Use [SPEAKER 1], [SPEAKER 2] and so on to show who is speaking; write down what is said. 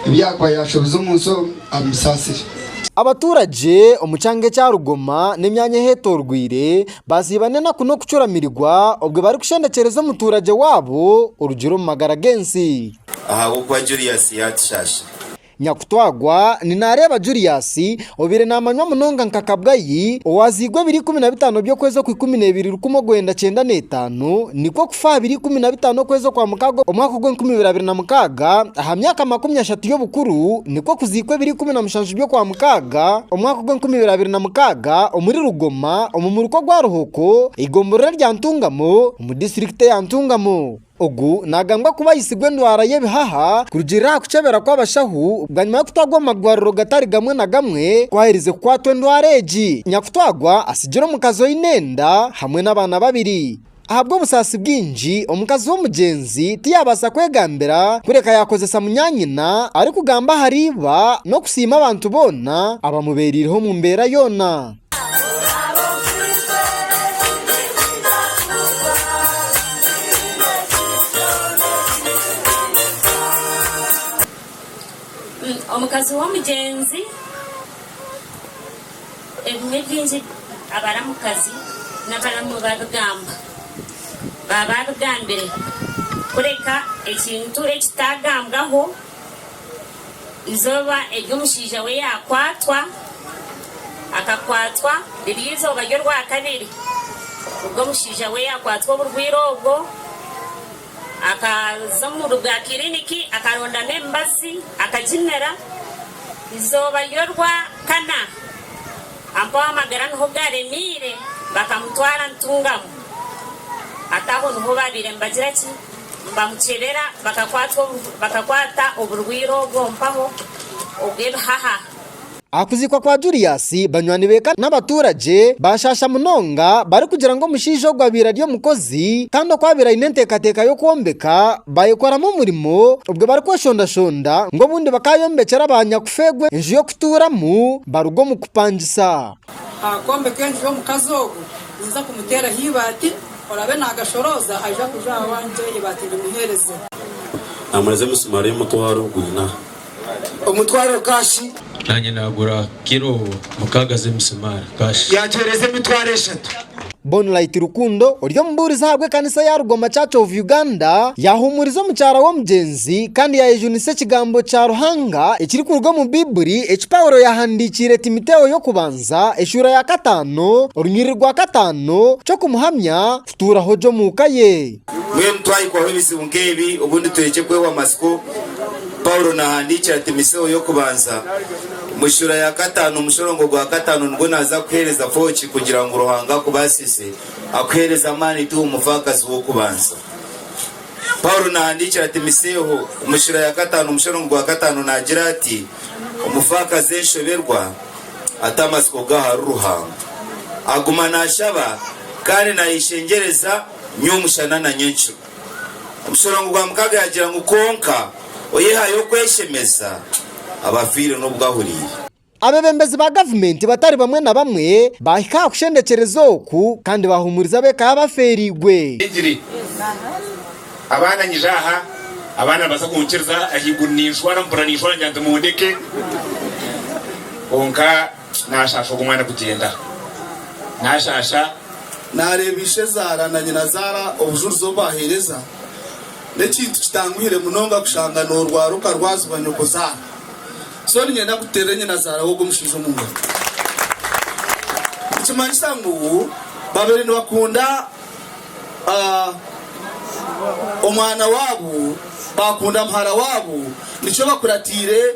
[SPEAKER 1] Ebyaakuba yaashobize omu nsi omu, abimusaasire. Abaturage
[SPEAKER 2] omu kyanga ekya Rugoma n'emyanya ehetorweire baziiba n'enaku n'okucuramirigwa obwe barikushendekyereza omuturage waabo orugire omu magara g'ensi. Ahabw'okuba
[SPEAKER 3] Julius yaatushaashire. Nyakutwaagwa
[SPEAKER 2] ni naareeba Julius Obaire naamanywa munonga nka Kabgayi, owaaziirwe ebiro ikumi na bitaano by'okwezi okw'ikumi n'ebiri rukumi orwenda kyenda n'etaano, nikwo kufa aha biro ikumi na bitaano okwezi okwa mukaaga omwaka ogw'enkumi ibiri abiri na mukaaga, aha myaka makumi ashatu y'obukuru, nikwo kuziikwa ebiro ikumi na mushanju by'okwa mukaaga omwaka ogw'enkumi ibiri abiri na mukaaga omuri Rugoma omu muruka ogwa Ruhoko, eigomborora erya Ntungamo omu disiturikiti eya Ntungamo. Ogu naagambwa kuba aitsigwe endwara y'ebihaha kurugiirira aha kukyebera kw'abashaho bwanyima y'okutwarwa omu marwariro gatari gamwe na gamwe ku aherize kukwatwa endwara egi. Nyakutwarwa atsigire omukazi oine enda hamwe n'abaana babiri. Ahabw'obusaasi bwingi, omukazi w'omugyenzi tiyaabaasa kwegambira kureka yaakozesa munyaanyina arikugamba ahari iba n'okusiima abantu boona abamubeereireho omu mbeera yoona.
[SPEAKER 4] Omukazi w'omugyenzi ebimwe bingi abaramukazi n'abaramu babigamba baba babigambire kureka ekintu ekitagambwaho Eizooba eri omushaija we yaakwatwa, akakwatwa riri eizooba ry'Orwakabiri. Obwo omushaija we yaakwatwa oburwaire obwo, akaza omu bwa kiriniki akarondamu emibazi akagimira. Eizooba ry'Orwakana ampaho amagara niho gaaremeire bakamutwara Ntungamo. Hati aho niho baabaire nibagira ki? Nibamukyebera, bakakwata oburwaire obwo omu mpaho obw'ebihaha. Aha
[SPEAKER 2] kuziikwa kwa Julius, banywani be eka n'abatuuragye baashaasha munonga barikugira ngu omushaija ogwo abaire ari omukozi kandi oku abaire aine enteekateeka y'okwombeka baayekoramu omurimo obwo barikweshondashonda ngu obundi bakaayombekyera ba nyakufa egwe enju y'okutuuramu baruga omu kupangisa. Aha kwombeka
[SPEAKER 5] enju y'omukazi ogu, ninza kumuteeraho eibaati, oraabe naagashorooza aija kuza aha wangye eibaati ndimuheereze. Naamureza
[SPEAKER 3] emisumaari y'omutwaro gwina. Omutwaro
[SPEAKER 1] kaashi. Naanye naagura
[SPEAKER 6] kiro mukaaga z'emisumaari kaashi. Yaagiheereza emitwaro
[SPEAKER 1] eshatu. Bonlight
[SPEAKER 2] Rukundo ori omubuurizi ahabwa ekanisa eya Rugoma Church of Uganda yahumuriza omukyara w'omugyenzi kandi yayejunisa ekigambo kya Ruhanga ekirikuruga omu baiburi eki Paulo yahandikiire Timoteo y'okubanza eshuura ya kataano orunyiriri rwa kataano ky'okumuhamya kutuuraho gye omu ka ye. Mbwenu twahikwaho
[SPEAKER 3] ebizibu nk'ebi obundi turekye kwehwa amatsiko, Paulo nahandiikira Timoseo y'okubanza. Omu shuura ya kataano omu mushororongo gwa kataano nibwo naaza kuheereza fooki kugira ngu Ruhanga akubaasise akuheereze amaani tiwe omufaakazi w'okubanza. Paulo naahandiikira Timoseeho omu shuura ya kataano omu mushororongo gwa kataano naagira ati, Omufaakazi enshoberwa ata amatsiko ge ahari Ruhanga. Aguma naashaba kandi naayeshengyereza nyomushana na nyenkiro. Omushororongo gwa mukaaga yaagira ngu, Kwonka oyehayo kweshemeza, aba afiire n'obu ahuriire. Abebembezi ba
[SPEAKER 2] gavumenti batari bamwe na bamwe baahika aha kushendekyereza oku kandi bahuumuriza ab'eka y'abafeereirwe. Ningire
[SPEAKER 7] abaana nyije aha, abaana nibabaasa kunkiriza, ahaiguru ninshwara mpurira ninshwara ngira nti, Mundeke kwonka. Naashaasha ogwo mwana kugyenda. Naashaasha. Naareeba
[SPEAKER 1] ishezaara na nyinazaara obujurizi obu baaheereza. N'ekintu kitanguhire munonga kushanga noorwara okarwazibwa nyokozaara. So niinyenda kuteerere nyinazaara w'ogwo mushaija omu ngaro. Nikimanyisa ngu baabaire nibakunda omwana waabo, baakunda muhara waabo, nikyo bakuratiire.